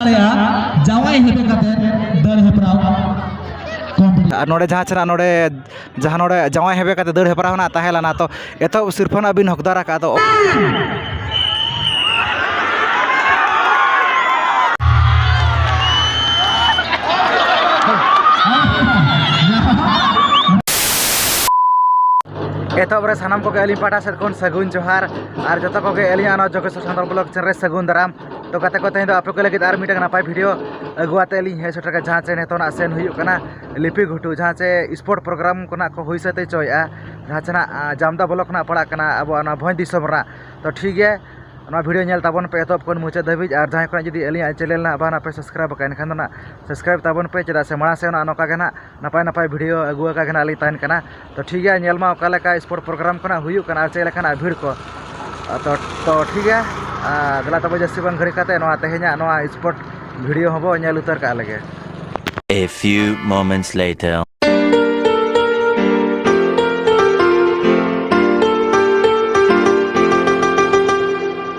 ᱡᱟᱶᱟᱭ ᱦᱮᱯᱮ ᱠᱟᱛᱮ ᱫᱟᱹᱲ ᱦᱮᱯᱨᱟᱣ ᱟᱨ ᱱᱚᱰᱮ ᱡᱟᱦᱟᱸ ᱪᱮᱱᱟᱜ ᱱᱚᱰᱮ ᱡᱟᱦᱟᱸ ᱱᱚᱰᱮ ᱡᱟᱶᱟᱭ ᱦᱮᱯᱮ ᱠᱟᱛᱮ ᱫᱟᱹᱲ ᱦᱮᱯᱨᱟᱣ ᱦᱮᱱᱟᱜ ᱛᱟᱦᱮᱸ ᱞᱮᱱᱟ ᱛᱚ ᱮᱛᱚᱦᱚᱵ ᱥᱤᱨᱯᱷᱟᱹ ᱱᱟᱜ ᱵᱤᱱ ᱦᱚᱠᱫᱟᱨ ᱟᱠᱟᱫ ᱫᱚ ᱮᱛᱚᱦᱚᱵ ᱨᱮ ᱥᱟᱱᱟᱢ ᱠᱚᱜᱮ ᱟᱹᱞᱤᱧ ᱯᱟᱦᱴᱟ ᱥᱮᱫ ᱠᱷᱚᱱ ᱥᱟᱹᱜᱩᱱ ᱡᱚᱦᱟᱨ ᱟᱨ ᱡᱚᱛᱚ ᱠᱚᱜᱮ ᱟᱹᱞᱤᱧᱟᱜ ᱱᱚᱣᱟ ᱡᱚᱜᱮᱥᱥᱚᱨ ᱥᱟᱱᱛᱟᱲ ᱵᱞᱚᱜᱽ ᱪᱮᱱᱮᱞ ᱨᱮ ᱥᱟᱹᱜᱩᱱ ᱫᱟᱨᱟᱢ ᱛᱚ ᱜᱟᱛᱮ ᱠᱚ ᱛᱮᱦᱮᱧ ᱫᱚ ᱟᱯᱮ ᱠᱚ ᱞᱟᱹᱜᱤᱫ ᱟᱨ ᱢᱤᱫᱴᱟᱝ ᱱᱟᱯᱟᱭ ᱵᱷᱤᱰᱭᱳ ᱟᱹᱜᱩ ᱠᱟᱛᱮᱫ ᱞᱤᱧ ᱦᱮᱡ ᱥᱮᱴᱮᱨ ᱠᱟᱱᱟ ᱡᱟᱦᱟᱸ ᱪᱮ ᱱᱤᱛᱚᱜ ᱱᱟᱜ ᱥᱮᱱ ᱦᱩᱭᱩᱜ ᱠᱟᱱᱟ ᱞᱤᱯᱤ ᱜᱷᱩᱴᱩ ᱡᱟᱦᱟᱸ ᱪᱮ ᱥᱯᱳᱨᱴ ᱯᱨᱳᱜᱨᱟᱢ ᱠᱚ ᱱᱟᱜ ᱠᱚ ᱦᱩᱭ ᱥᱟᱹᱛ ᱦᱚᱪᱚᱭᱮᱜᱼᱟ ᱡᱟᱦᱟᱸ ᱪᱮ ᱱᱟᱜ ᱡᱟᱢᱫᱟ ᱵᱞᱚᱠ ᱨᱮᱱᱟᱜ ᱯᱟᱲᱟᱜ ᱠᱟᱱᱟ ᱟᱵᱚᱣᱟᱜ ᱱᱚᱣᱟ ᱵᱷᱚᱸᱡᱽ ᱫᱤᱥᱚᱢ ᱨᱮᱱᱟᱜ ᱛᱚ ᱴᱷᱤᱠ ᱜᱮᱭᱟ ᱱᱚᱣᱟ ᱵᱷᱤᱰᱭᱳ ᱧᱮᱞ ᱛᱟᱵᱚᱱ ᱯᱮ ᱮᱛᱚᱦᱚᱵ ᱠᱷᱚᱱ ᱢᱩᱪᱟᱹᱫ ᱫᱷᱟᱹᱵᱤᱡ ᱟᱨ ᱡᱟᱦᱟᱸᱭ ᱠᱚᱣᱟᱜ ᱡᱩᱫᱤ ᱟᱹᱞᱤᱧᱟᱜ ᱪᱮᱱᱮᱞ ᱱᱟᱜ ᱵᱟᱝ ᱱᱟᱜ ᱯᱮ ᱥᱟᱵᱥᱠᱨᱟᱭᱤᱵᱽ ᱠᱟᱜᱼᱟ ᱮᱱᱠᱷᱟᱱ ᱫᱚ ᱱᱟᱜ ᱥᱟᱵᱥᱠᱨᱟᱭᱤᱵᱽ ᱛᱟᱵᱚᱱ ᱯᱮ ᱪᱮᱫᱟᱜ ᱥᱮ ᱢᱟᱲᱟᱝ ᱥᱮᱫ ᱱᱚᱝᱠᱟ ᱜᱮ ᱱᱟᱜ ᱱᱟᱯᱟᱭ ᱱᱟᱯᱟᱭ ᱵᱷᱤᱰᱭᱳ ᱟᱹᱜᱩ ᱟᱠᱟᱜᱮ ᱱᱟᱜ ᱞᱤᱧ ᱛᱟᱦᱮᱱ ᱠᱟᱱᱟ ᱛᱚ ᱴᱷᱤᱠ ᱜᱮᱭᱟ ᱧᱮᱞ ᱢᱟ ᱚᱠᱟ ᱞᱮᱠᱟ ᱥᱯᱳᱨᱴ ᱯᱨᱳᱜᱨᱟᱢ ᱠᱚ ᱱᱟᱦᱟᱜ ᱦᱩᱭᱩᱜ ᱠᱟᱱᱟ ᱟᱨ ᱪᱮᱫ ᱞᱮᱠᱟᱱᱟᱜ ᱵᱷᱤᱲ ᱠᱚ ᱟᱫᱚ ᱛᱚ ᱴᱷᱤᱠ ᱜᱮᱭᱟ ᱟᱨ ᱫᱮᱞᱟ ᱛᱚᱵᱮ ᱡᱟᱹᱥᱛᱤ ᱵᱟᱝ ᱜᱷᱟᱹᱲᱤᱠ ᱠᱟᱛᱮᱫ ᱱᱚᱣᱟ ᱛᱮᱦᱮᱧᱟᱜ ᱱᱚᱣᱟ ᱥᱯᱳᱨᱴ ᱵᱷᱤᱰᱭᱳ ᱦᱚᱸ ᱵᱚᱱ ᱧᱮᱞ ᱩᱛᱟᱹᱨ ᱠᱟᱜ ᱞᱮᱜᱮ A few moments later.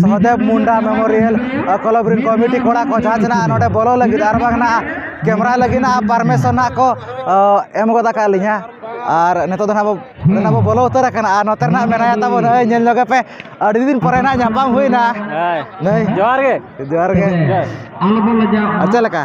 Sahadeb Munda memorial club ᱨᱮᱱ ᱠᱚᱢᱤᱴᱤ ᱠᱚᱲᱟ ᱠᱚ ᱡᱟᱦᱟᱸ ᱛᱤᱱᱟᱹᱜ ᱱᱚᱰᱮ ᱵᱚᱞᱚ ᱞᱟᱹᱜᱤᱫ ᱟᱨ ᱵᱟᱝ ᱱᱟᱜ ᱠᱮᱢᱮᱨᱟ ᱞᱟᱹᱜᱤᱫ ᱱᱟᱜ ᱯᱟᱨᱢᱤᱥᱚᱱ ᱱᱟᱜ ᱠᱚ ᱮᱢ ᱜᱚᱫ ᱟᱠᱟᱫ ᱞᱤᱧᱟ ᱟᱨ ᱱᱤᱛᱚᱜ ᱫᱚ ᱱᱟᱜ ᱵᱚ ᱱᱤᱛᱚᱜ ᱫᱚ ᱵᱚ ᱵᱚᱞᱚ ᱩᱛᱟᱹᱨ ᱟᱠᱟᱱᱟ ᱟᱨ ᱱᱚᱛᱮ ᱱᱟᱜ ᱢᱮᱱᱟᱭᱟ ᱛᱟᱵᱚᱱ ᱱᱩᱭ ᱧᱮᱞ ᱧᱚᱜᱮ ᱯᱮ ᱟᱹᱰᱤ ᱫᱤᱱ ᱯᱚᱨᱮ ᱱᱟᱜ ᱧᱟᱯᱟᱢ ᱦᱩᱭᱱᱟ ᱱᱩᱭ ᱡᱚᱦᱟᱨ ᱜᱮ ᱡᱚᱦᱟᱨ ᱜᱮ ᱟᱞᱚ ᱵᱚᱱ ᱞᱟᱡᱟᱜᱼᱟ ᱟᱨ ᱪᱮᱫ ᱞᱮᱠᱟ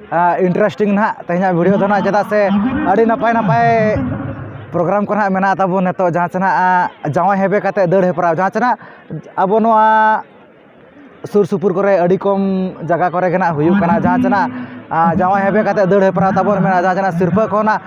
ᱤᱱᱴᱟᱨᱮᱥᱴᱤᱝ ᱱᱟᱦᱟᱜ ᱛᱮᱦᱮᱧᱟᱜ ᱵᱷᱤᱰᱭᱳ ᱫᱚ ᱱᱟᱦᱟᱜ ᱪᱮᱫᱟᱜ ᱥᱮ ᱟᱹᱰᱤ ᱱᱟᱯᱟᱭ ᱱᱟᱯᱟᱭ ᱯᱨᱳᱜᱨᱟᱢ ᱠᱚ ᱱᱟᱦᱟᱜ ᱢᱮᱱᱟᱜ ᱛᱟᱵᱚᱱ ᱱᱤᱛᱚᱜ ᱡᱟᱦᱟᱸ ᱪᱮ ᱱᱟᱦᱟᱜ ᱡᱟᱶᱟᱭ ᱦᱮᱵᱮ ᱠᱟᱛᱮᱫ ᱫᱟᱹᱲ ᱦᱮᱯᱨᱟᱣ ᱡᱟᱦᱟᱸ ᱪᱮ ᱱᱟᱦᱟᱜ ᱟᱵᱚ ᱱᱚᱣᱟ ᱥᱩᱨ ᱥᱩᱯᱩᱨ ᱠᱚᱨᱮᱜ ᱟᱹᱰᱤ ᱠᱚᱢ ᱡᱟᱭᱜᱟ ᱠᱚᱨᱮᱜ ᱱᱟᱦᱟᱜ ᱦᱩᱭᱩᱜ ᱠᱟᱱᱟ ᱡᱟᱦᱟᱸ ᱪᱮ ᱱᱟᱦᱟᱜ ᱡᱟᱶᱟᱭ ᱦᱮᱵᱮ ᱠᱟᱛᱮᱫ ᱫᱟᱹᱲ ᱦᱮᱯᱨᱟᱣ ᱛᱟᱵᱚᱱ ᱢᱮᱱᱟᱜᱼᱟ ᱡᱟᱦᱟᱸ ᱪᱮ ᱱᱟᱦᱟᱜ ᱥᱤᱨᱯᱟᱹ ᱠᱚ ᱱᱟᱦᱟᱜ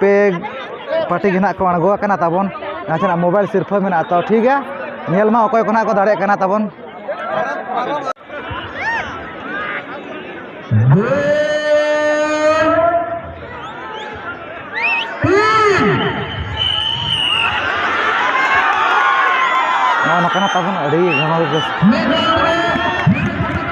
ᱯᱮ ᱯᱟᱴᱤ ᱜᱮ ᱱᱟᱦᱟᱜ ᱠᱚ ᱟᱬᱜᱚ ᱟᱠᱟᱱᱟ ᱛᱟᱵᱚᱱ ᱱᱟᱥᱮᱱᱟᱜ ᱢᱳᱵᱟᱭᱤᱞ ᱥᱤᱨᱯᱷᱟᱹ ᱢᱮᱱᱟᱜᱼᱟ ᱛᱚ ᱴᱷᱤᱠ ᱜᱮᱭᱟ ᱧᱮᱞ ᱢᱟ ᱚᱠᱚᱭ ᱠᱚ ᱱᱟᱦᱟᱜ ᱠᱚ ᱫᱟᱲᱮᱭᱟᱜ ᱠᱟᱱᱟ ᱛᱟᱵᱚᱱ ᱱᱚᱜᱼᱚ ᱱᱚᱝᱠᱟᱱᱟᱜ ᱛᱟᱵᱚᱱ ᱟᱹᱰᱤ ᱜᱚᱱᱚᱝ ᱨᱮ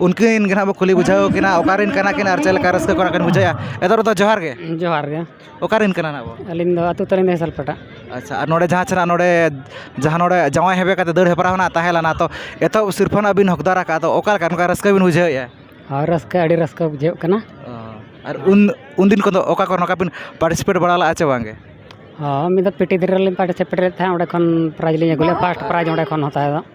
ᱩᱱᱠᱤᱱ ᱜᱮ ᱦᱟᱸᱜ ᱵᱚᱱ ᱠᱩᱞᱤ ᱵᱩᱡᱷᱟᱹᱣ ᱠᱤᱱᱟ ᱚᱠᱟ ᱨᱮᱱ ᱠᱟᱱᱟ ᱠᱤᱱ ᱟᱨ ᱪᱮᱫ ᱞᱮᱠᱟ ᱨᱟᱹᱥᱠᱟᱹ ᱠᱚ ᱚᱱᱟ ᱠᱤᱱ ᱵᱩᱡᱷᱟᱹᱣᱟ ᱮᱛᱚᱢ ᱫᱚ ᱡᱚᱦᱟᱨ ᱜᱮ ᱡᱚᱦᱟᱨ ᱜᱮ ᱚᱠᱟ ᱨᱮᱱ ᱠᱟᱱᱟ ᱱᱟᱦᱟᱜ ᱵᱚᱱ ᱟᱹᱞᱤᱧ ᱫᱚ ᱟᱹᱛᱩ ᱛᱟᱹᱞᱤᱧ ᱫᱚ ᱦᱮᱥᱟᱞᱯᱟᱴᱟ ᱟᱪᱪᱷᱟ ᱟᱨ ᱱᱚᱰᱮ ᱡᱟᱦᱟᱸ ᱥᱮᱱᱟᱜ ᱱᱚᱰᱮ ᱡᱟᱦᱟᱸ ᱱᱚᱰᱮ ᱡᱟᱶᱟᱭ ᱦᱮᱣᱮ ᱠᱟᱛᱮᱫ ᱫᱟᱹᱲ ᱦᱮᱯᱨᱟᱣ ᱱᱟᱦᱟᱜ ᱛᱟᱦᱮᱸ ᱞᱮᱱᱟ ᱛᱚ ᱮᱛᱚᱦᱚᱵ ᱥᱤᱨᱯᱟᱹ ᱱᱟᱦᱟᱜ ᱵᱤᱱ ᱦᱚᱠᱫᱟᱨ ᱟᱠᱟᱫᱼᱟ ᱟᱫᱚ ᱚᱠᱟ ᱞᱮᱠᱟ ᱱᱚᱝᱠᱟ ᱨᱟᱹᱥᱠᱟᱹ ᱵᱤᱱ ᱵᱩᱡᱷᱟᱹᱣᱮᱫᱼᱟ ᱦᱳᱭ ᱨᱟᱹᱥᱠᱟᱹ ᱟᱹᱰᱤ ᱨᱟᱹᱥᱠᱟᱹ ᱵᱩᱡᱷᱟᱹᱜ ᱠᱟᱱᱟ ᱟᱨ ᱩᱱ ᱩᱱ ᱫᱤᱱ ᱠᱚᱫᱚ ᱚᱠᱟ ᱠᱚᱨᱮ ᱱᱚᱝᱠᱟ ᱵᱤᱱ ᱯᱟᱨᱴᱤᱥᱤᱯᱮᱴ ᱵᱟᱲᱟ ᱞᱮᱫᱼᱟ ᱪᱮ ᱵᱟᱝ ᱜᱮ ᱦᱳᱭ ᱢᱤᱫ ᱫᱷᱟᱣ ᱯᱤᱴᱤ ᱫᱷᱟᱹᱨᱤ ᱨᱮᱞᱤᱧ ᱯᱟᱨᱴᱤᱥᱤᱯᱮᱴ ᱞᱮᱫ ᱛᱟᱦᱮᱸᱫ ᱚᱸᱰᱮ ᱠᱷᱚᱱ ᱯᱨᱟᱭᱤᱡᱽ ᱞᱤᱧ ᱟᱹᱜᱩ ᱞᱮᱫᱼᱟ ᱯᱷᱟᱥᱴ ᱯᱨᱟᱭᱤᱡᱽ ᱚᱸᱰᱮ ᱠᱷᱚᱱ ᱦᱟᱛᱟᱣ ᱫᱚ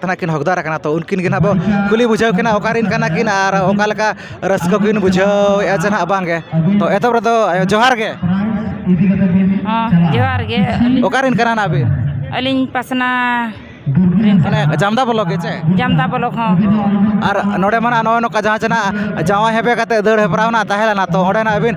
ᱛᱟᱱᱟᱜ ᱠᱤᱱ ᱦᱚᱠᱫᱟᱨ ᱠᱟᱱᱟ ᱛᱚ ᱩᱱᱠᱤᱱ ᱜᱮ ᱱᱟᱦᱟᱜ ᱵᱚᱱ ᱠᱩᱞᱤ ᱵᱩᱡᱷᱟᱹᱣ ᱠᱤᱱᱟ ᱚᱠᱟ ᱨᱮᱱ ᱠᱟᱱᱟ ᱠᱤᱱ ᱟᱨ ᱚᱠᱟ ᱞᱮᱠᱟ ᱨᱟᱹᱥᱠᱟᱹ ᱠᱤᱱ ᱵᱩᱡᱷᱟᱹᱣᱮᱫᱼᱟ ᱥᱮ ᱱᱟᱦᱟᱜ ᱵᱟᱝ ᱜᱮ ᱛᱚ ᱮᱛᱚᱦᱚᱵ ᱨᱮᱫᱚ ᱟᱭᱳ ᱡᱚᱦᱟᱨ ᱜᱮ ᱡᱚᱦᱟᱨ ᱜᱮ ᱚᱠᱟ ᱨᱮᱱ ᱠᱟᱱᱟ ᱱᱟᱦᱟᱜ ᱵᱤᱱ ᱟᱹᱞᱤᱧ ᱯᱟᱥᱱᱟ ᱢᱟᱱᱮ ᱡᱟᱢᱫᱟ ᱵᱞᱚᱠ ᱜᱮ ᱪᱮ ᱡᱟᱢᱫᱟ ᱵᱞᱚᱠ ᱦᱚᱸ ᱟᱨ ᱱᱚᱰᱮ ᱢᱟ ᱱᱟᱦᱟᱜ ᱱᱚᱜᱼᱚᱸᱭ ᱱᱚᱝᱠᱟ ᱡᱟᱦᱟᱸ ᱪᱮ ᱱᱟᱦᱟᱜ ᱡᱟᱶᱟᱭ ᱦᱮᱵᱮ ᱠᱟᱛᱮᱫ ᱫᱟᱹᱲ ᱦᱮᱯᱨᱟᱣ ᱱᱟᱦᱟᱜ ᱛᱟᱦᱮᱸ ᱞᱮᱱᱟ ᱛᱚ ᱚᱸᱰᱮ ᱱᱟᱦᱟᱜ ᱟᱹᱵᱤᱱ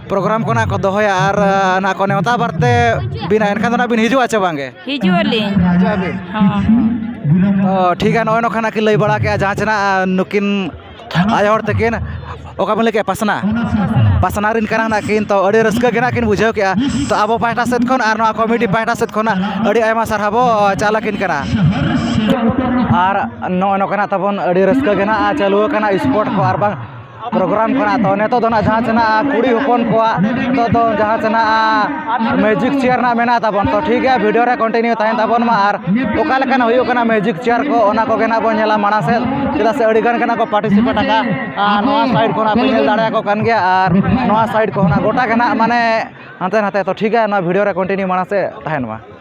ᱯᱨᱳᱜᱨᱟᱢ ᱠᱚ ᱱᱟᱦᱟᱜ ᱠᱚ ᱫᱚᱦᱚᱭᱟ ᱟᱨ ᱱᱟᱦᱟᱜ ᱠᱚ ᱱᱮᱣᱛᱟ ᱵᱟᱨᱛᱮ ᱵᱤᱱᱟ ᱮᱱᱠᱷᱟᱱ ᱫᱚ ᱱᱟᱦᱟᱜ ᱵᱤᱱ ᱦᱤᱡᱩᱜᱼᱟ ᱪᱮ ᱵᱟᱝ ᱜᱮ ᱦᱤᱡᱩᱜ ᱟᱹᱞᱤᱧ ᱦᱤᱡᱩᱜ ᱟᱹᱵᱤᱱ ᱦᱚᱸ ᱚ ᱴᱷᱤᱠ ᱜᱮᱭᱟ ᱱᱚᱜᱼᱚᱸᱭ ᱱᱚᱝᱠᱟ ᱱᱟᱦᱟᱜ ᱠᱤᱱ ᱞᱟᱹᱭ ᱵᱟᱲᱟ ᱠᱮᱜᱼᱟ ᱡᱟᱦᱟᱸ ᱪᱮ ᱱᱟᱦᱟᱜ ᱱᱩᱠᱤᱱ ᱟᱭᱳ ᱦᱚᱲ ᱛᱟᱹᱠᱤᱱ ᱚᱠᱟ ᱵᱤᱱ ᱞᱟᱹᱭ ᱠᱮᱜᱼᱟ ᱯᱟᱥᱱᱟ ᱯᱟᱥᱱᱟ ᱨᱮᱱ ᱠᱟᱱᱟ ᱱᱟᱦᱟᱜ ᱠᱤᱱ ᱛᱚ ᱟᱹᱰᱤ ᱨᱟᱹᱥᱠᱟᱹ ᱜᱮ ᱱᱟᱦᱟᱜ ᱠᱤᱱ ᱵᱩᱡᱷᱟᱹᱣ ᱠᱮᱜᱼᱟ ᱛᱚ ᱟᱵᱚ ᱯᱟᱦᱴᱟ ᱥᱮᱫ ᱠᱷᱚᱱ ᱟᱨ ᱱᱚᱣᱟ ᱠᱚᱢᱤᱴᱤ ᱯᱟᱦᱴᱟ ᱥᱮᱫ ᱠᱷᱚᱱᱟᱜ ᱟᱹᱰᱤ ᱟᱭᱢᱟ ᱥᱟᱨᱦᱟᱣ ᱵᱚ ᱪᱟᱞ ᱟᱹᱠᱤᱱ ᱠᱟᱱᱟ ᱟᱨ ᱱᱚᱜᱼᱚᱸᱭ ᱱᱚᱝᱠᱟ ᱱᱟᱦᱟᱜ ᱛᱟᱵᱚᱱ ᱟᱹᱰᱤ ᱨᱟᱹᱥᱠᱟᱹ ᱜᱮ ᱱᱟᱦᱟᱜ ᱪᱟᱹᱞᱩ ᱟᱠᱟᱱᱟ ᱥᱯᱳᱨᱴ ᱠᱚ ᱟᱨ ᱵᱟᱝ ᱯᱨᱳᱜᱨᱟᱢ ᱠᱟᱱᱟ ᱛᱚ ᱱᱤᱛᱚᱜ ᱫᱚ ᱱᱟᱦᱟᱜ ᱡᱟᱦᱟᱸ ᱪᱮ ᱱᱟᱦᱟᱜ ᱠᱩᱲᱤ ᱦᱚᱯᱚᱱ ᱠᱚᱣᱟᱜ ᱱᱤᱛᱚᱜ ᱫᱚ ᱡᱟᱦᱟᱸ ᱪᱮ ᱱᱟᱦᱟᱜ ᱢᱮᱡᱤᱠ ᱪᱮᱭᱟᱨ ᱱᱟᱦᱟᱜ ᱢᱮᱱᱟᱜ ᱛᱟᱵᱚᱱ ᱛᱚ ᱴᱷᱤᱠ ᱜᱮᱭᱟ ᱵᱷᱤᱰᱤᱭᱳ ᱨᱮ ᱠᱚᱱᱴᱤᱱᱤᱭᱩ ᱛᱟᱦᱮᱱ ᱛᱟᱵᱚᱱ ᱢᱟ ᱟᱨ ᱚᱠᱟ ᱞᱮᱠᱟᱱᱟᱜ ᱦᱩᱭᱩᱜ ᱠᱟᱱᱟ ᱢᱮᱡᱤᱠ ᱪᱮᱭᱟᱨ ᱠᱚ ᱚᱱᱟ ᱠᱚᱜᱮ ᱱᱟᱦᱟᱜ ᱵᱚᱱ ᱧᱮᱞᱟ ᱢᱟᱲᱟᱝ ᱥᱮᱫ ᱪᱮᱫᱟᱜ ᱥᱮ ᱟᱹᱰᱤᱜᱟᱱ ᱜᱮ ᱱᱟᱦᱟᱜ ᱠᱚ ᱯᱟᱨᱴᱤᱥᱤᱯᱮᱴ ᱟᱠᱟᱫᱼᱟ ᱟᱨ ᱱᱚᱣᱟ ᱥᱟᱭᱤᱰ ᱠᱷᱚᱱᱟᱜ ᱯᱮ ᱧᱮᱞ ᱫᱟᱲᱮᱭᱟᱠᱚ ᱠᱟᱱ ᱜᱮᱭᱟ ᱟᱨ ᱱᱚᱣᱟ ᱥᱟᱭᱤᱰ ᱠᱷᱚᱱᱟᱜ ᱜᱚᱴᱟ ᱜᱮ ᱱᱟᱦᱟᱜ ᱢᱟᱱᱮ ᱦᱟᱱᱛᱮ ᱱᱟᱛᱮ ᱛᱚ ᱴᱷᱤᱠ ᱜᱮᱭᱟ ᱱᱚᱣᱟ ᱵᱷᱤᱰᱤᱭᱳ ᱨᱮ ᱠᱚᱱᱴᱤᱱᱤᱭᱩ ᱢᱟᱲᱟᱝ ᱥᱮᱫ ᱛᱟᱦᱮᱱ ᱢᱟ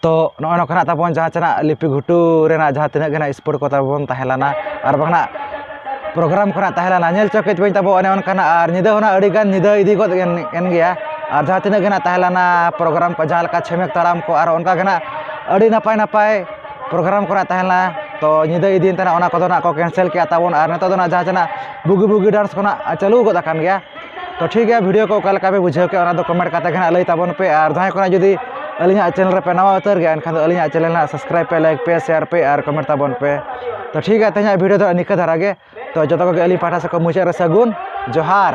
ᱛᱚ ᱱᱚᱜᱼᱚᱭ ᱱᱚᱝᱠᱟ ᱱᱟᱜ ᱛᱟᱵᱚᱱ ᱡᱟᱦᱟᱸ ᱪᱟᱱᱟᱜ ᱞᱤᱯᱤ ᱜᱷᱩᱴᱩ ᱨᱮᱱᱟᱜ ᱡᱟᱦᱟᱸ ᱛᱤᱱᱟᱹᱜ ᱜᱮ ᱱᱟᱜ ᱥᱯᱳᱨᱴ ᱠᱚ ᱛᱟᱵᱚᱱ ᱛᱟᱦᱮᱸ ᱞᱮᱱᱟ ᱟᱨ ᱵᱟᱝ ᱱᱟᱜ ᱯᱨᱳᱜᱨᱟᱢ ᱠᱷᱚᱱᱟᱜ ᱛᱟᱦᱮᱸ ᱞᱮᱱᱟ ᱧᱮᱞ ᱪᱚ ᱠᱟᱹᱡ ᱵᱟᱹᱧ ᱛᱟᱵᱚ ᱚᱱᱮ ᱚᱱᱠᱟᱱᱟᱜ ᱟᱨ ᱧᱤᱫᱟᱹ ᱦᱚᱸ ᱱᱟᱜ ᱟᱹᱰᱤ ᱜᱟᱱ ᱧᱤᱫᱟᱹ ᱤᱫᱤ ᱜᱚᱫ ᱮᱱ ᱜᱮᱭᱟ ᱟᱨ ᱡᱟᱦᱟᱸ ᱛᱤᱱᱟᱹᱜ ᱜᱮ ᱱᱟᱜ ᱛᱟᱦᱮᱸ ᱞᱮᱱᱟ ᱯᱨᱳᱜᱨᱟᱢ ᱠᱚ ᱡᱟᱦᱟᱸ ᱞᱮᱠᱟ ᱪᱷᱮᱢᱮᱠ ᱛᱟᱲᱟᱢ ᱠᱚ ᱟᱨ ᱚᱱᱠᱟ ᱜᱮ ᱱᱟᱜ ᱟᱹᱰᱤ ᱱᱟᱯᱟᱭ ᱱᱟᱯᱟᱭ ᱯᱨᱳᱜᱨᱟᱢ ᱠᱚᱨᱟᱣᱮᱫ ᱛᱟᱦᱮᱸ ᱞᱮᱱᱟ ᱛᱚ ᱧᱤᱫᱟᱹ ᱤᱫᱤᱭᱮᱱ ᱛᱟᱦᱮᱱᱟ ᱚᱱᱟ ᱠᱚᱫᱚ ᱦᱟᱸᱜ ᱠᱚ ᱠᱮᱱᱥᱮᱞ ᱠᱮᱫᱼᱟ ᱛᱟᱵᱚᱱ ᱟᱨ ᱱᱤᱛᱚᱜ ᱫᱚ ᱦᱟᱸᱜ ᱡᱟᱦᱟᱸ ᱛᱤᱱᱟᱹᱜ ᱵᱩᱜᱤ ᱵᱩᱜᱤ ᱰᱟᱱᱥ ᱠᱚ ᱦᱟᱸᱜ ᱪᱟᱹᱞᱩ ᱜᱚᱫ ᱟᱠᱟᱱ ᱜᱮᱭᱟ ᱛᱚ ᱴᱷᱤᱠ ᱜᱮᱭᱟ ᱵᱷᱤᱰᱭᱳ ᱠᱚ ᱚᱠᱟ ᱞᱮᱠᱟ ᱯᱮ ᱵᱩᱡᱷᱟᱹᱣ ᱠᱮᱫᱼᱟ ᱚᱱᱟ ᱫᱚ ᱠᱚᱢᱮᱱᱴ ᱠᱟᱛᱮ ᱜᱮ ᱦᱟᱸᱜ ᱞᱟᱹᱭ ᱛᱟᱵᱚᱱ ᱯᱮ ᱟᱨ ᱡᱟᱦᱟᱸᱭ ᱠᱚᱣᱟᱜ ᱡᱩᱫᱤ ᱟᱹᱞᱤᱧᱟᱜ ᱪᱮᱱᱮᱞ ᱨᱮᱯᱮ ᱱᱟᱣᱟ ᱩᱛᱟᱹᱨ ᱜᱮᱭᱟ ᱮᱱᱠᱷᱟᱱ ᱫᱚ ᱟᱹᱞᱤᱧᱟᱜ ᱪᱮᱱᱮᱞ ᱦᱟᱸᱜ ᱥᱟᱵᱥᱠᱨᱟᱭᱤᱵᱽ ᱯᱮ ᱞᱟᱭᱤᱠ ᱯᱮ ᱥᱮᱭᱟᱨ ᱯᱮ ᱟᱨ ᱠᱚᱢᱮᱱᱴ ᱛᱟᱵᱚᱱ ᱯᱮ ᱛᱚ ᱴᱷᱤᱠ ᱜᱮᱭᱟ ᱛᱮᱦᱮᱧᱟᱜ ᱵᱷᱤᱰᱭᱳ ᱫᱚ ᱱᱤᱝᱠᱟᱹ ᱫᱷᱟᱨᱟ ᱜᱮ ᱛᱚ ᱡᱚᱛᱚ ᱠᱚᱜᱮ ᱟᱹᱞᱤᱧ ᱯᱟᱦᱴᱟ ᱥᱮᱫ ᱠᱷᱚᱱ ᱢᱩᱪᱟᱹᱫ ᱨᱮ ᱥᱟᱹᱜᱩᱱ ᱡᱚᱦᱟᱨ